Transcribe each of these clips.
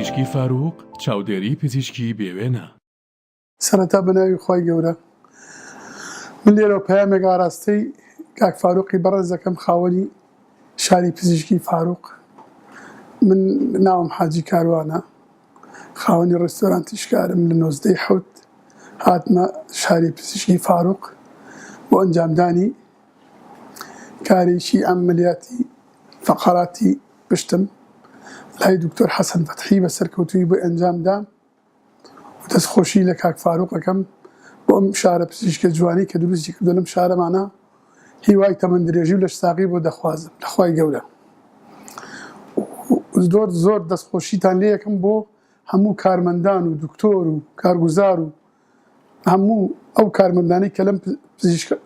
پزیشکی فاروق چاودێری پزیشکی بێوێنە سەرەتا بەناوی خی گەورە من لێرە پامێک ئاراستەی کاک فاروقی بەڕێزەکەم خاوەنی شاری پزیشکی فاروق من ناوم حاجی کاروانە خاوەنی ڕێستۆرانتی شکارم لە نۆزدە ی حەوت هاتمە شاری پزیشکی فاروق بۆ ئەنجامدانی کارێکی عەمەلیاتی فەقەراتی پشتم لای دکتۆر حەسەن فەتحی بە سەرکەوتوویی بۆی ئەنجام دام و دەست خۆشی لە کاک فاروق ئەکەم بۆ ئەم شارە پزیشکە جوانەی کە دروستی کردووە لەم شارەمانا. هیوای تەمەن درێژی و لەش ساغی بۆ دەخوازم لە خوای گەورە و زۆر زۆر دەست خۆشیتان لێ یەکەم بۆ هەموو کارمەندان و دکتۆر و کارگوزار و هەموو ئەو کارمەندانی کە لەم پزیشکە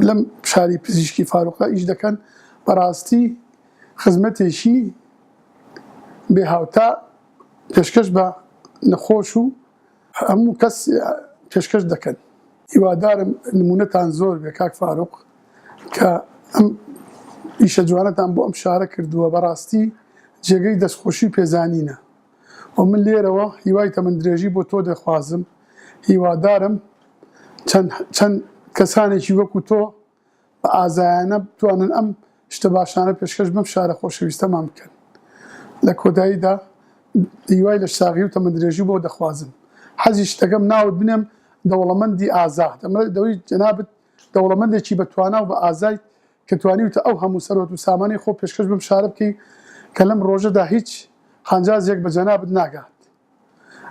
لەم شاری پزیشکی فاروقدا ئیش دەکەن بەڕاستی خزمەتێکی بێ هاوتا پێشکەش بە نەخۆش و هەموو کەس پێشکەش دەکەن. هیوادارم نمونەتان زۆر بێ کاک فاروق کە ئەم ئیشە جوانەتان بۆ ئەم شارە کردووە بەڕاستی جێگەی دەستخۆشی و پێزانینە و من لێرەوە هیوای تەمەندرێژی بۆ تۆ دەخوازم هیوادارم چەند چەند کەسانێکی وەکو تۆ بە ئازایانە بتوانن ئەم شتە باشانە پێشکەش بەم شارە خۆشەویستەمان بکەن. لە کۆتاییدا هیوای لەش ساغی و تەمەندرێژی بۆ دەخوازم. حەزیشت دەکەم ناوت بنێم دەوڵەمەندی ئازا. دەمەوێت جەنابت دەوڵەمەندێکی بە توانا و بە ئازایت کە توانیوتە ئەو هەموو سەروەت و سامانەی خۆ پێشکەش بەم شارە بکەی کە لەم ڕۆژەدا هیچ قانجازێک بە جەنابت ناگات.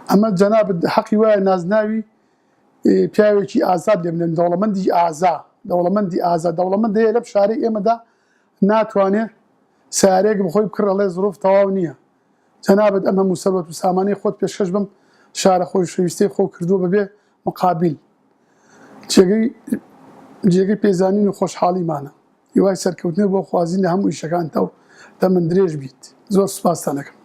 ئەمە جەنابت هەقی وایە نازناوی پیاوێکی ئازاد لێ بنێن، دەوڵەمەندی ئازا، دەوڵەمەندی ئازا، دەوڵەمەند هەیە لەم شارەی ئێمەدا ناتوانێ سەیارەیەک بخۆی بکڕ ئەڵێ زڕوف تەواو نییە، جەنابت ئەم هەموو سەروەت و سامانەی خۆت پێشکەش بەم شارە خۆشەویستەی خۆو کردووە بەبێ مقابیل، جێگەی جێگەی پێزانین و خۆشحاڵیمانە. هیوای سەرکەوتنت بۆ خوازین لە هەموو ئیشەکانتا و تەمەن درێژ بیت زۆر سوپاستان ئەکەم.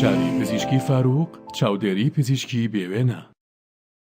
شاری پزیشکی فارووق چاودێری پزیشکی بێوێنە